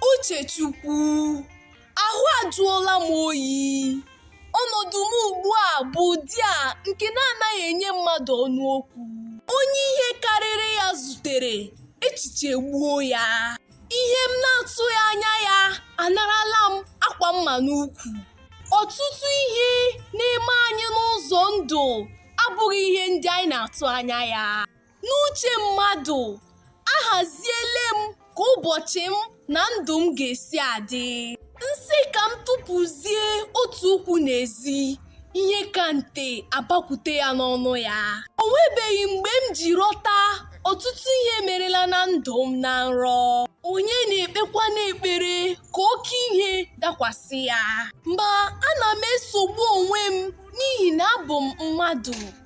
Uchechukwu, ahụ ajụọla m oyi. Ọnọdụ m ugbu a bụ ụdị a nke na-anaghị enye mmadụ ọnụ okwu. Onye ihe karịrị ya zutere, echiche gbuo ya. Ihe m na-atụghị anya ya anarala m akwa mma n'ukwu. Ọtụtụ ihe na-eme anyị n'ụzọ ndụ abụghị ihe ndị anyị na-atụ anya ya. N'uche mmadụ, ahaziele m ka ụbọchị m na ndụ m ga-esi adị. M sị ka m tụpụzie otu ụkwụ n'ezi, ihe ka nte abakwute ya n'ọnụ ya. O nwebeghị mgbe m ji rọta ọtụtụ ihe merela na ndụ m na nrọ. Onye na-ekpekwa n'ekpere ka oke ihe dakwasị ya. Ma ana m esogbu onwe m n'ihi na abụ m mmadụ.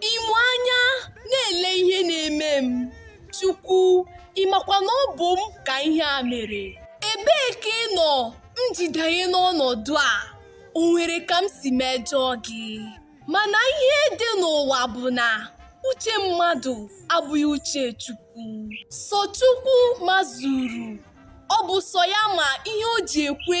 Ị mụ anya na-ele ihe na-eme m. Chukwu, ị makwa na ọ bụ m ka ihe a mere. Ebee ka ị nọ m ji danye n'ọnọdụ a? O nwere ka m si mejọọ gị? Mana ihe dị n'ụwa bụ na uche mmadụ abụghị uche Chukwu. Sọ Chukwu mazuru. Ọ bụ sọ ya ma ihe o ji ekwe